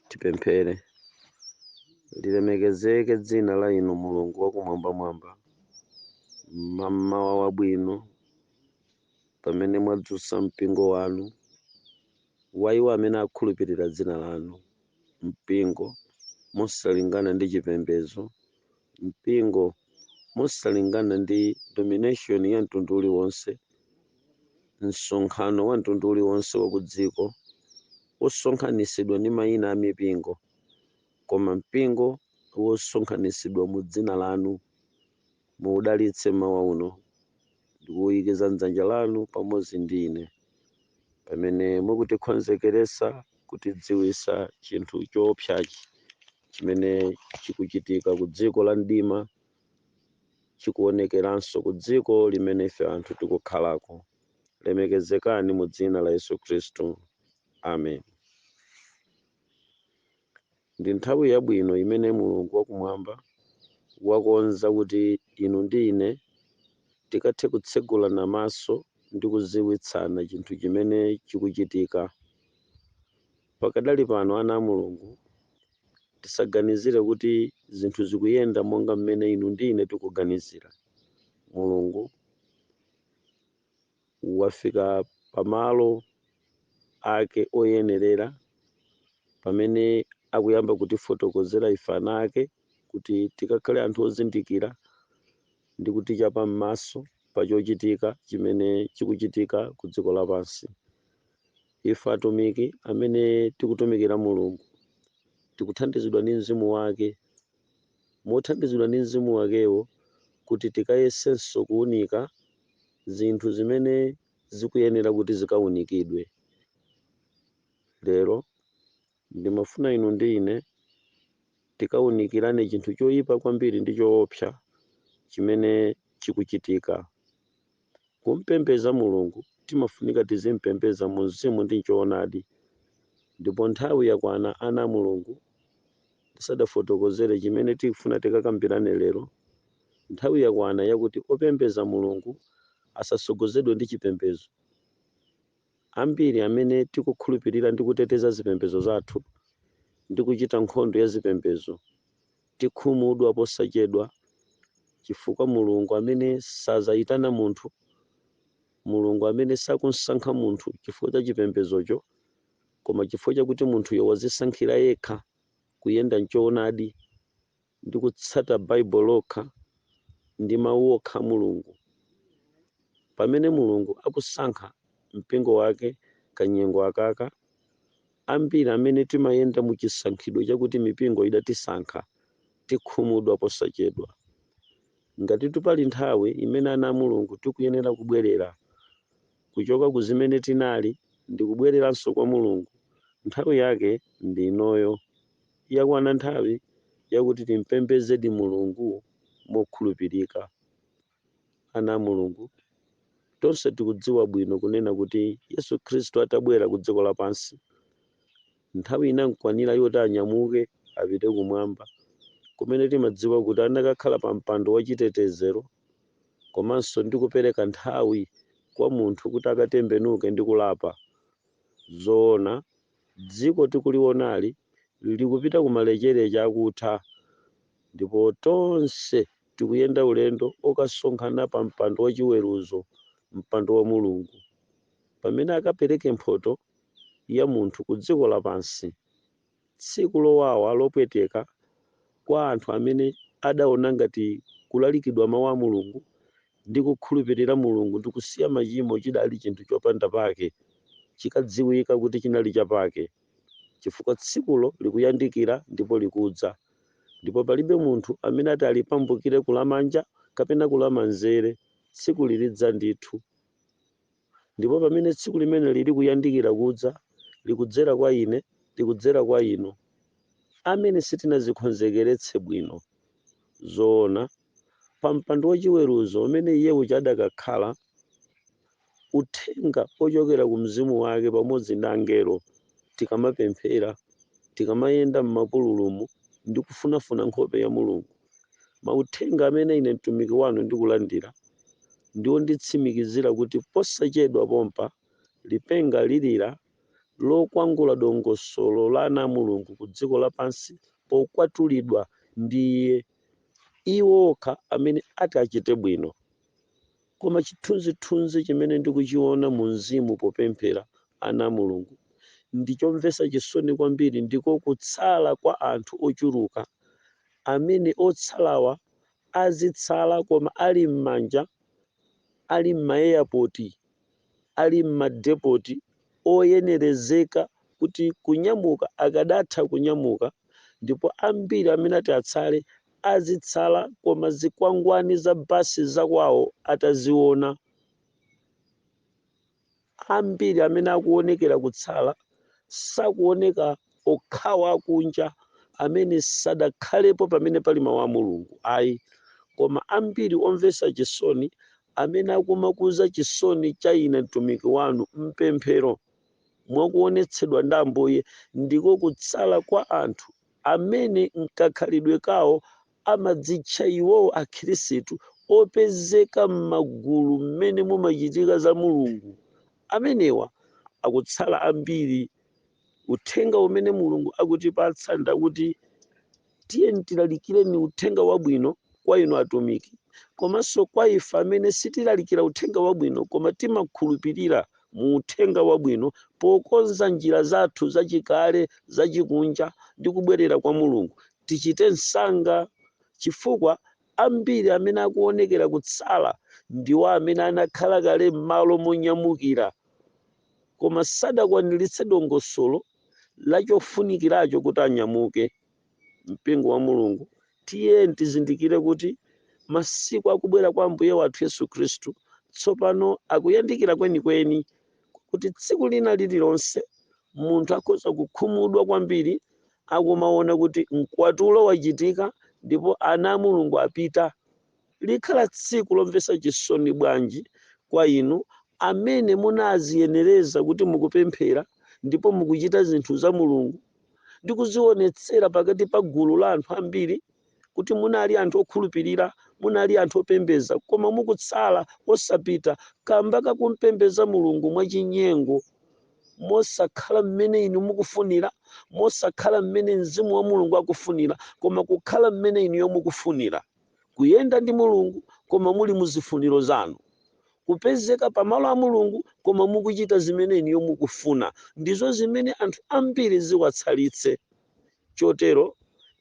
Tipemphere. Lilemekezeke dzina la Inu Mulungu wakumwambamwamba mmamawa wabwino pamene mwadzutsa mpingo wanu wa iwo amene akhulupirira dzina lanu, mpingo mosalingana ndi chipembedzo, mpingo mosalingana ndi domination ya mtundu uliwonse, msonkhano wa mtundu uliwonse wa kudziko, wosonkhanitsidwa ndi mayina a mipingo, koma mpingo wosonkhanitsidwa mu Dzina Lanu. Muwudalitse mmawa uno, ndi kuwuyikiza mdzanja Lanu pamodzi ndi ine, pamene mukutikonzekeretsa, kutidziwitsa chinthu chowopsyachi. chimene chikuchitika ku dziko la mdima chikuonekeranso ku dziko limene ife anthu tikukhalako lemekezekani mu dzina la yesu khristu amen ndi nthawi yabwino imene mulungu wakumwamba wakonza kuti inu ndi ine tikathe kutsegulana maso ndi kuziwitsana chinthu chimene chikuchitika Pakadali pano ana a Mulungu, tisaganizire kuti zinthu zikuyenda monga mmene inu ndi ine tikuganizira. Mulungu wafika pa malo Ake oyenerera pamene akuyamba kutifotokozera ife ana Ake kuti tikakhale anthu ozindikira ndi kutichapa m'maso pa chochitika chimene chikuchitika ku dziko lapansi. Ife atumiki amene tikutumikira Mulungu tikuthandizidwa ndi mzimu wake, mothandizidwa ndi mzimu wakewo kuti tikayesenso kuunika zinthu zimene zikuyenera kuti zikaunikidwe lero. Ndimafuna inu ndi ine tikawunikirane chinthu choyipa kwambiri ndi choopsa chimene chikuchitika. Kumupembedza Mulungu timafunika tizimupembedza mu mzimu ndi m'choonadi. Ndipo nthawi yakwana ana a Mulungu, tisadafotokozere chimene tikufuna tikakambirane lero, nthawi yakwana yakuti opembedza Mulungu asatsogozedwe ndi chipembedzo. Ambiri amene tikukhulupirira ndi kuteteza zipembedzo zathu ndi kuchita nkhondo ya zipembedzo tikhumudwa posachedwa chifukwa Mulungu amene sadzayitana munthu, Mulungu amene sakumsankha munthu chifukwa cha chipembedzocho koma chifukwa chakuti munthuyo wadzisankhira yekha kuyenda m'choonadi. ndi kutsata Bible lokha ndi mawu okha a Mulungu. Pamene Mulungu akusankha mpingo wake kanyengo akaka, ambiri amene timayenda mu chisankhidwe chakuti mipingo idatisankha tikhumudwa posachedwa. Ngatitu pali nthawi imene ana a Mulungu tikuyenera kubwerera kuchoka ku zimene tinali ndikubwereranso kwa Mulungu, nthawi yake ndi inoyo. Yakwana nthawi yakuti timpembezedi Mulungu mokhulupirika. Ana a Mulungu, tonse tikudziwa bwino kunena kuti Yesu Khristu atabwera ku dziko lapansi, nthawi inamkwanira yoti anyamuke apite kumwamba kumene timadziwa kuti anakakhala pa mpando wa chitetezero komanso ndi kupereka nthawi kwa munthu kuti akatembenuke ndi kulapa. Zoona, Dziko tikulionali likupita ku malekezero akutha ndipo tonse tikuyenda ulendo wokasonkhana pa mpando wa chiweruzo, mpando wa Mulungu, pamene akapereke mphoto ya munthu ku dziko lapansi. Tsiku lowawa lopweteka kwa anthu amene adaona ngati kulalikidwa mawu a Mulungu ndi kukhulupirira Mulungu ndi kusiya machimo chidali chinthu chopanda pake, chikadziwika kuti chinali chapake, chifukwa tsikulo likuyandikira ndipo likudza, ndipo palibe munthu amene ati alipambukire kulamanja kapena kulamanzere, tsikuli lidza ndithu. Ndipo pamene tsiku limeneli likuyandikira kudza, likudzera kwa ine, likudzera kwa inu, amene sitinadzikonzekeretse bwino, zoona, pa mpando wachiweruzo umene Iye uja adakakhala, Uthenga wochokera ku Mzimu Wake pamodzi ndi angelo, tikamapemphera, tikamayenda m'mapululumu ndi kufunafuna nkhope ya Mulungu. Mauthenga amene ine mtumiki wanu ndikulandira ndi onditsimikizira kuti posachedwa pompa lipenga lilira lokwangula dongosolo la ana a Mulungu ku dziko lapansi pokwatulidwa ndi Iye, iwo okha amene ati achite bwino. Koma chithunzithunzi chimene ndikuchiona mu Mzimu popemphera, ana a Mulungu, ndi chomvetsa chisoni kwambiri, ndiko kutsala kwa anthu ochuluka, amene otsalawa azitsala koma ali m'manja, ali m'maeyapoti, ali m'madepoti oyenerezeka kuti kunyamuka akadatha kunyamuka ndipo ambiri amene ati atsale azitsala koma zikwangwani za basi zakwawo ataziona. Ambiri amene akuonekera kutsala sakuoneka okhawa akunja amene sadakhalepo pamene pali mawu a Mulungu ayi koma ambiri omvetsa chisoni amene akumakuza chisoni cha ine mtumiki wanu m'pemphero mwa kuonetsedwa ndi Ambuye, ndiko kutsala kwa anthu amene m'kakhalidwe kawo amadzitcha iwowo Akhristu opezeka m'magulu mmene mumachitika za Mulungu. Amenewa akutsala ambiri. Uthenga umene Mulungu akutipatsa ndakuti. tiyeni tilalikireni uthenga wabwino kwa inu atumiki komanso kwa ife amene sitilalikira uthenga wabwino koma timakhulupirira mu uthenga wabwino pokonza njira zathu zachikale zachikunja ndi kubwerera kwa mulungu tichite msanga chifukwa ambiri amene akuonekera kutsala ndiwo amene anakhala kale m'malo monyamukira koma sadakwaniritse dongosolo la chofunikiracho kuti anyamuke. Mpingo wa Mulungu, tiyeni tizindikire kuti masiku a kubwera kwa Ambuye wathu Yesu Khristu tsopano akuyandikira kwenikweni, kwakuti tsiku lina lililonse munthu akhoza kukhumudwa kwambiri akumaona kuti mkwatulo wachitika ndipo ana a Mulungu apita. Likhala tsiku lomvetsa chisoni bwanji kwa inu amene munaziyenereza kuti mukupemphera ndipo mukuchita zinthu za Mulungu ndi kuzionetsera pakati pa gulu la anthu ambiri kuti munali anthu okhulupirira, munali anthu opembeza, koma mukutsala osapita kamba kakumpembeza Mulungu mwachinyengo, mosakhala mmene inu mukufunira, mosakhala mmene Mzimu wa Mulungu akufunira, koma kukhala mmene inuyo mukufunira. kuyenda ndi Mulungu koma muli mu zifuniro zanu, kupezeka pa malo a Mulungu koma mukuchita zimene inuyo mukufuna, ndizo zimene anthu ambiri ziwatsalitse. Chotero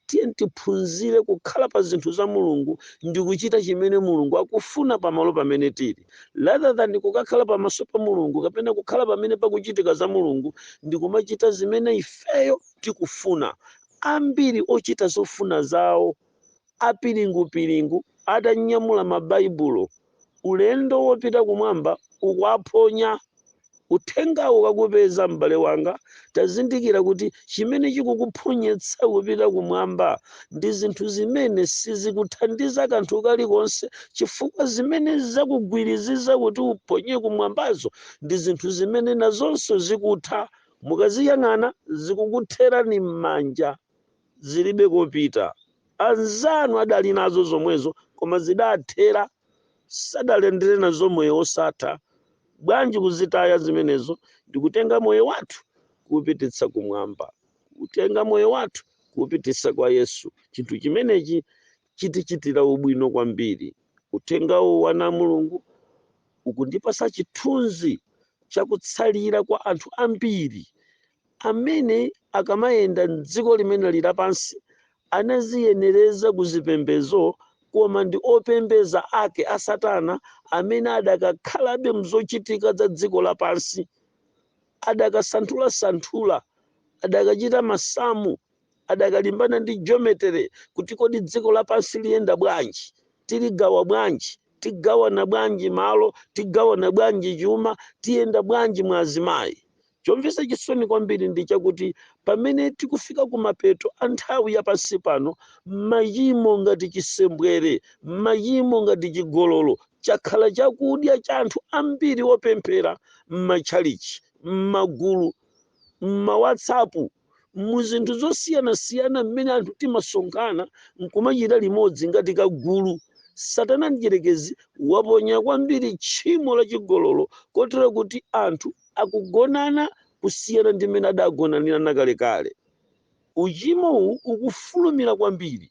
tiyeni tiphunzire kukhala pa zinthu za Mulungu ndi kuchita chimene Mulungu akufuna pa malo pamene tili, rather than kukakhala pamaso pa Mulungu kapena kukhala pamene pakuchitika za Mulungu ndi kumachita zimene ifeyo tikufuna. Ambiri ochita zofuna zawo. Apiringupiringu atanyamula Mabaibulo, ulendo wopita kumwamba ukuwaphonya. Uthengawu kakupeza, m'bale wanga, tazindikira kuti chimene chikukuphonyetsa kupita kumwamba ndi zinthu zimene sizikuthandiza kanthu kalikonse chifukwa zimene zakugwiriziza kuti uphonye kumwambazo ndi zinthu zimene nazonso zikutha. Mukaziyang'ana, zikukutherani m'manja. zilibe kopita. Anzanu adali nazo zomwezo koma zidathera, sadalandire nazo moyo wosatha. Bwanji kuzitaya zimenezo ndikutenga moyo wathu kuupititsa kumwamba, kutenga moyo wathu kuupititsa kwa Yesu? Chinthu chimenechi chitichitira ubwino kwambiri. Uthengawu wana a Mulungu ukundipasa chithunzi chakutsalira kwa anthu ambiri amene akamayenda m'dziko limene lili lapansi anaziyenereza ku zipembezo koma ndi opembeza ake a Satana amene adakakhalabe mzochitika za dziko lapansi, adakasanthulasanthula, adakachita masamu, adakalimbana ndi geometry kuti kodi dziko lapansi liyenda bwanji, tiligawa bwanji, tigawana bwanji malo, tigawana bwanji chuma, tiyenda bwanji mwa azimayi. Chomvetsa chisoni kwambiri ndi chakuti pamene tikufika kumapeto a nthawi ya pansi pano, machimo ngati chisembwere, machimo ngati chigololo, chakhala chakudya cha anthu ambiri opemphera m'matchalitchi, m'magulu, m'ma WhatsApp, mu zinthu zosiyanasiyana mmene anthu timasonkhana nkumachita limodzi ngati kagulu satana mdyerekezi waponya kwambiri tchimo la chigololo kotero kuti anthu akugonana kusiyana ndi mmene adagonanira nakalekale uchimo uwu ukufulumira kwambiri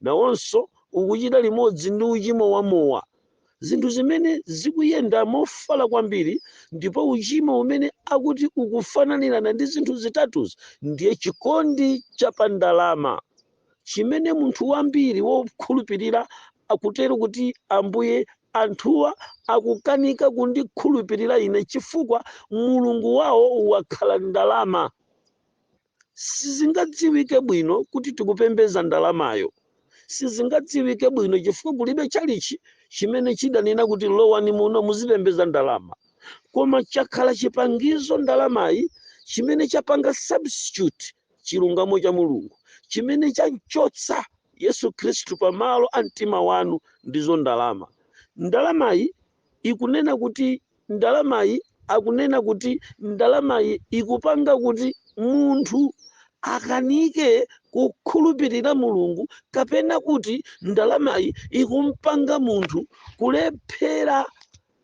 nawonso ukuchita limodzi ndi uchimo wa mowa zinthu zimene zikuyenda mofala kwambiri ndipo uchimo umene akuti ukufananirana ndi zinthu zitatuzi ndiye chikondi cha pa ndalama chimene munthu wambiri wokhulupirira akutero kuti ambuye anthuwa akukanika kundikhulupirira ine chifukwa mulungu wawo wakhala ndalama Sizingadziwike bwino kuti tikupembeza ndalamayo. Sizingadziwike bwino chifukwa kulibe tchalitchi chimene chidanena kuti lowani muno muzipembeza ndalama. Koma chakhala chipangizo ndalamayi chimene chapanga substitute chilungamo cha Mulungu, chimene chamchotsa Yesu Khristu pa malo a mtima wanu ndizo ndalama. Ndalamayi ikunena kuti ndalamayi akunena kuti ndalamayi ikupanga kuti munthu akanike kukhulupirira mulungu kapena kuti ndalamayi ikumpanga munthu kulephera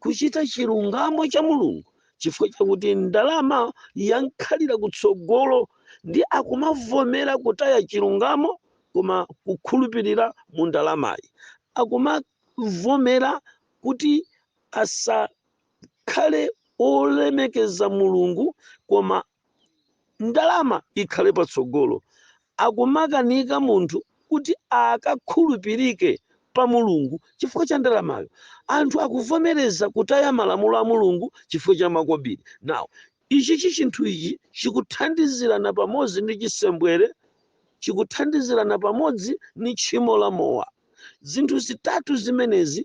kuchita chilungamo cha mulungu chifukwa chakuti ndalama yankhalira kutsogolo ndi akumavomera kutaya chilungamo koma kukhulupirira mu ndalamayi akumavomera kuti asakhale olemekeza mulungu koma ndalama ikhale patsogolo akumakanika munthu kuti akakhulupirike pa mulungu chifukwa cha ndalamayo anthu akuvomereza kutaya malamulo a mulungu chifukwa cha makobiri nawo Ichi chi chinthu ichi chikuthandizirana pamodzi ndi chisembwere, chikuthandizirana pamodzi ndi tchimo la mowa. Zinthu zitatu zimenezi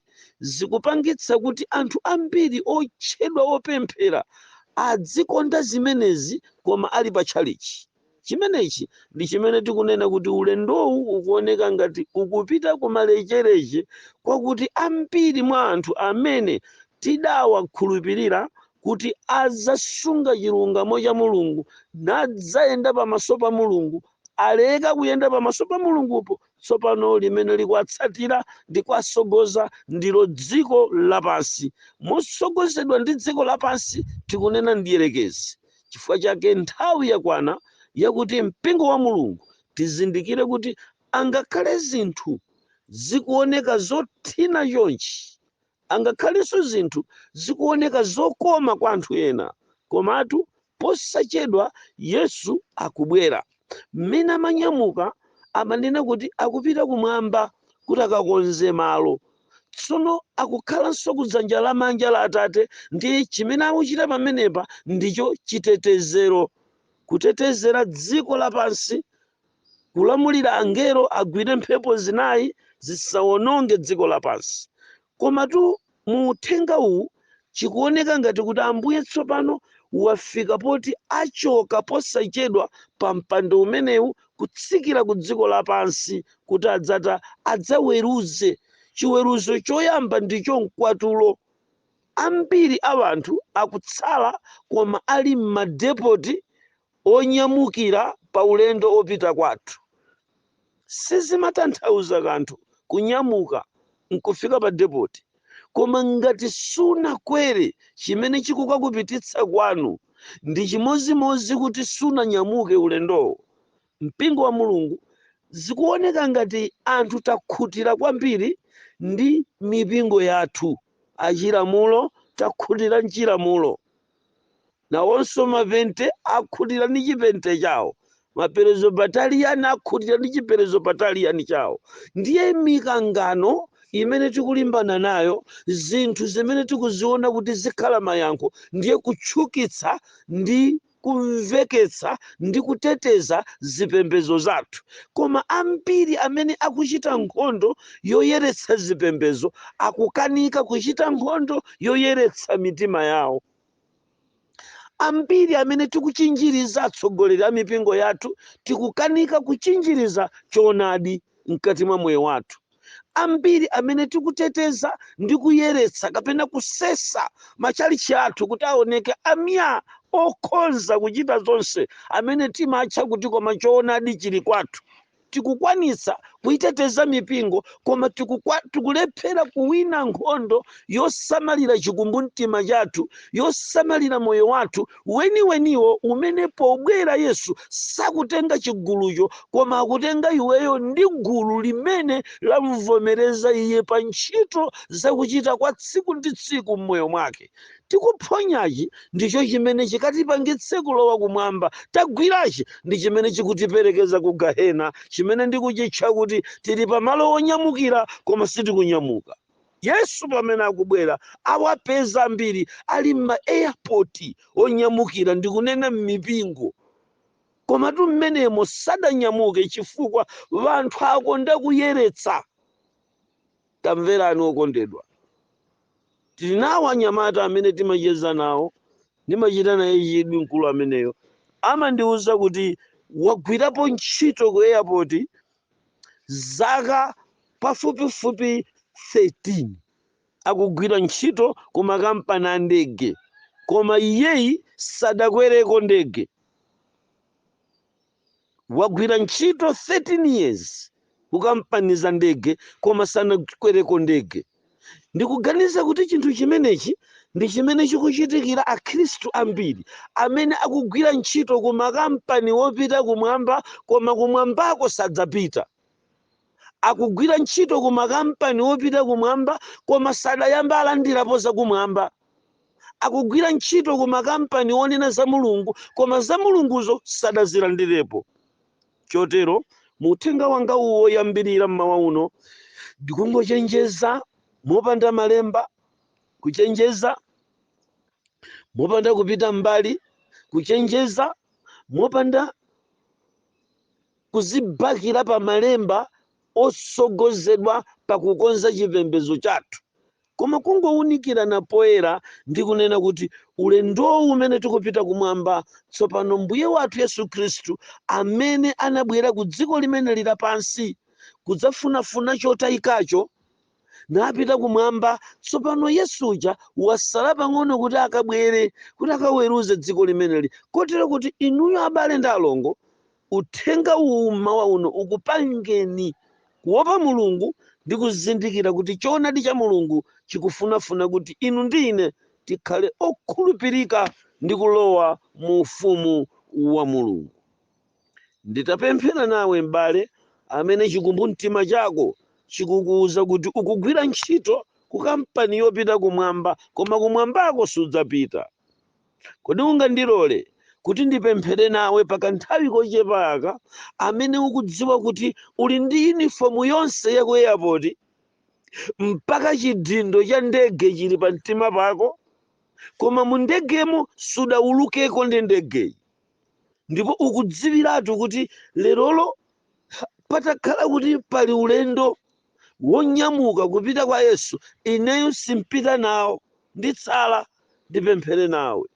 zikupangitsa kuti anthu ambiri otchedwa opemphera adzikonda zimenezi koma ali pa tchalitchi. Chimenechi ndi chimene tikunena kuti ulendowu ukuoneka ngati ukupita kumalecheleche kwakuti ambiri mwa anthu amene tidawakhulupirira kuti adzasunga chilungamo cha Mulungu nadzayenda pamaso pa Mulungu aleka kuyenda pamaso pa Mulungupo tsopano limene likuwatsatira ndi kuwatsogoza ndilo dziko lapansi. Motsogozedwa ndi dziko lapansi tikunena mdyerekezi. Chifukwa chake nthawi yakwana yakuti mpingo wa Mulungu tizindikire kuti angakhale zinthu zikuoneka zothina chonchi, angakhalenso zinthu zikuoneka zokoma kwa anthu ena, komatu posachedwa Yesu akubwera. Mmene amanyamuka, amanena kuti akupita kumwamba kuti akakonze malo. Tsono akukhalanso ku dzanja lamanja la Atate ndi chimene akuchita pamenepa ndicho chitetezero, kutetezera dziko lapansi, kulamulira angelo agwire mphepo zinayi zisawononge dziko lapansi, Komatu mu uthenga uwu chikuoneka ngati kuti Ambuye tsopano wafika poti achoka posachedwa pa mpando umenewu kutsikira ku dziko lapansi kuti adzata adzaweruze. Chiweruzo choyamba ndicho mkwatulo. Ambiri a anthu akutsala koma ali m'madepoti onyamukira pa ulendo opita kwathu. Sizimatanthauza kanthu kunyamuka nkufika pa depoti koma ngati sunakwere chimene chikukakupititsa kwanu ndi chimodzimodzi kuti sunanyamuke ulendowo. Mpingo wa Mulungu zikuoneka ngati anthu takhutira kwambiri ndi mipingo yathu. Achilamulo takhutira m'chilamulo. Nawonso mapente akhutira ndi chipente chawo, maperezobataliani akhutira ndi chiperezobataliani chawo. Ndiye mikangano imene tikulimbana nayo, zinthu zimene tikuziona kuti zikhala mayankho, ndiye kutchukitsa ndi kumveketsa ndi kuteteza zipembezo zathu. Koma ambiri amene akuchita nkhondo yoyeretsa zipembezo akukanika kuchita nkhondo yoyeretsa mitima yawo. Ambiri amene tikuchinjiriza atsogoleri a mipingo yathu tikukanika kuchinjiriza choonadi mkati mwa moyo wathu. Ambiri amene tikuteteza ndi kuyeretsa kapena kusesa matchalitchi athu kuti aoneke amya okhonza kuchita zonse amene timatcha kuti koma choonadi chili kwathu. Tikukwanitsa kuiteteza mipingo koma tikulephera kuwina nkhondo yosamalira chikumbumtima chathu, yosamalira moyo wathu weniweniwo umene pobwera Yesu sakutenga chigulucho koma akutenga iweyo ndi gulu limene lamuvomereza Iye pa ntchito zakuchita kwa tsiku ndi tsiku m'moyo mwake. Tikuphonyachi ndicho chimene chikatipangitse kulowa Kumwamba, tagwirachi ndi chimene chikutiperekeza ku Gahena, chimene ndikuchitcha kuti tili pa malo onyamukira koma sitikunyamuka. Yesu pamene akubwera awapeza ambiri ali m'ma airport onyamukira, ndikunena m'mipingo, komatu m'menemo sadanyamuke chifukwa wanthu akonda kuyeretsa. Tamverani okondedwa. Tili nawo anyamata amene timacheza nawo. Ndimachita naye chidwi mkulu ameneyo. Amandiuza kuti wagwirapo ntchito ku airport zaka pafupifupi 13. Akugwira ntchito ku makampani a ndege koma iyeyi sadakwereko ndege. Wagwira ntchito 13 years ku kampani za ndege koma sanakwereko ndege. Ndikuganiza kuti chinthu chimenechi ndi chimene chikuchitikira akhristu ambiri amene akugwira ntchito ku makampani wopita kumwamba koma kumwambako sadzapita. Akugwira ntchito ku makampani wopita kumwamba koma sadayamba alandirapo zakumwamba. akugwira ntchito ku makampani onena za Mulungu, koma za Mulunguzo sadazilandirepo. Chotero, mu uthenga wanga uwu woyambirira m'mawa uno, ndikungochenjeza mopanda malemba, kuchenjeza mopanda kupita m'mbali, kuchenjeza mopanda kuzibakira pa malemba otsogozedwa pa kukonza chipembedzo chathu. Koma kungounikirana poyera ndi kunena kuti ulendowu umene tikupita kumwamba tsopano Mbuye wathu Yesu Khristu amene anabwera ku dziko limeneli lapansi kudzafunafuna chotayikacho napita kumwamba tsopano Yesu uja wasala pang'ono kuti akabwere kuti akaweruze dziko limeneli kotero kuti inuyo abale ndi alongo Uthenga uwu mmawa uno ukupangeni kuwopa Mulungu ndi kuzindikira kuti Choonadi cha Mulungu chikufunafuna kuti inu ndi ine tikhale okhulupirika ndi kulowa mu Ufumu wa Mulungu. Nditapemphera nawe, m'bale, amene chikumbumtima chako chikukuuza kuti ukugwira ntchito ku kampani yopita Kumwamba, koma Kumwambako sudzapita. Kodi ungandilole kuti ndipemphere nawe pa kanthawi kochepa aka, amene ukudziwa kuti uli ndi yunifomu yonse ya ku eyapoti, mpaka chidindo cha ndege chili pa mtima pako, koma mu ndegemo sudaulukeko ndi ndegeyi, ndipo ukudziwiratu kuti lerolo patakhala kuti pali ulendo wonyamuka kupita kwa Yesu, ineyo simpita nawo, nditsala ndipemphere nawe.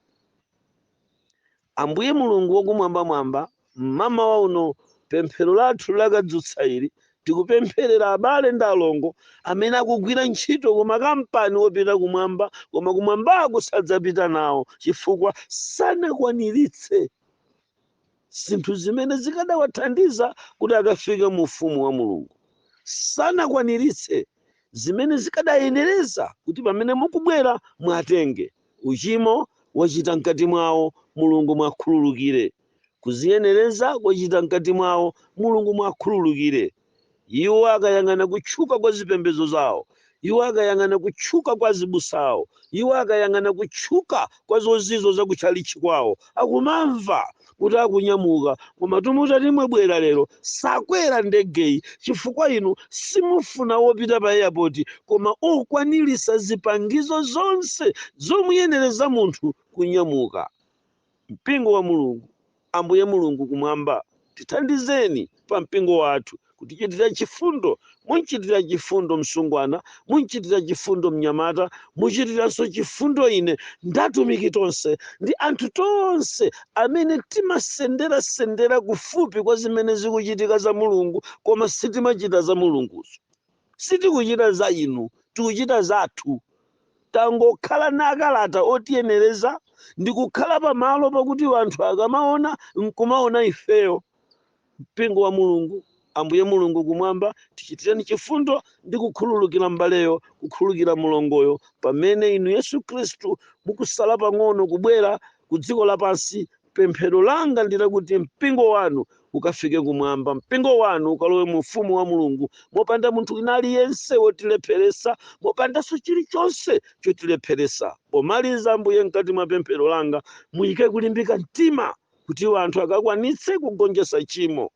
Ambuye Mulungu wakumwambamwamba, mmamawa uno pemphero lathu lakadzutsa ili, tikupempherera abale ndi alongo amene akugwira ntchito ku makampani opita kumwamba, koma kumwambako sadzapita nawo chifukwa sanakwaniritse zinthu zimene zikadawathandiza kuti akafike mu ufumu wa mulungu sanakwaniritse zimene zikadayenereza kuti pamene mukubwera mwatenge uchimo wachita mkati mwawo mulungu mwakhululukire kuziyenereza kwachita mkati mwawo mulungu mwakhululukire Iwo akayang'ana kutchuka kwa zipembedzo zawo. Iwo akayang'ana kutchuka kwa azibusa awo. Iwo akayang'ana kutchuka kwa zozizwa za ku tchalitchi kwawo, akumamva kuti akunyamuka, Komatu mutati mwabwera lero, sakwera ndegeyi, chifukwa inu simufuna opita pa eyapoti, koma okwanirisa zipangizo zonse zomuyenereza munthu kunyamuka. Mpingo wa Mulungu, Ambuye Mulungu Kumwamba, tithandizeni pa mpingo wathu, kutichitira chifundo. Mumchitire chifundo msungwana, mumchitire chifundo mnyamata, muchitirenso chifundo ine, ndi atumiki tonse, ndi anthu tonse amene timasendera sendera kufupi kwa zimene zikuchitika za Mulungu, koma sitimachita za Mulunguzo. Sitikuchita za inu, tikuchita zathu. Tangokhala ndi makalata otiyenereza ndi kukhala pamalo pakuti anthu akamaona, nkumaona ifeyo, mpingo wa Mulungu. Ambuye Mulungu Kumwamba, tichitireni chifundo ndi kukhululukira m'baleyo, kukhululukira mlongoyo, pamene Inu, Yesu Khristu, mukusala pang'ono kubwera ku dziko lapansi Pemphero langa ndi lakuti mpingo wanu ukafike kumwamba. Mpingo wanu ukalowe mu ufumu wa Mulungu mopanda munthu wina aliyense wotilepheretsa, mopandanso chilichonse chotilepheretsa. Pomaliza, Ambuye, mkati mwa pemphero langa muyike kulimbika mtima kuti anthu akakwanitse kugonjetsa tchimo.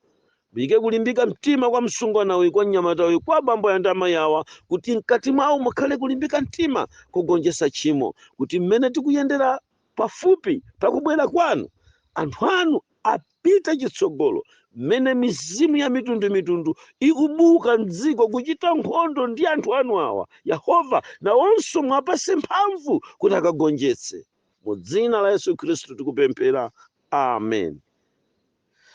Muyike kulimbika mtima kwa msungwana uyu, kwa mnyamata uyu, kwa abambo aya ndi amayi awa, kuti mkati mwawo mukhale kulimbika mtima kogonjetsa tchimo, kuti mmene tikuyendera pafupi pa kubwera kwanu, anthu anu apite chitsogolo mmene mizimu ya mitundu mitundu ikubuka m'dziko kuchita nkhondo ndi anthu anu awa. Yehova, nawonso muwapase mphamvu kuti akagonjetse. Mu dzina la Yesu Khristu tikupemphera. Amen.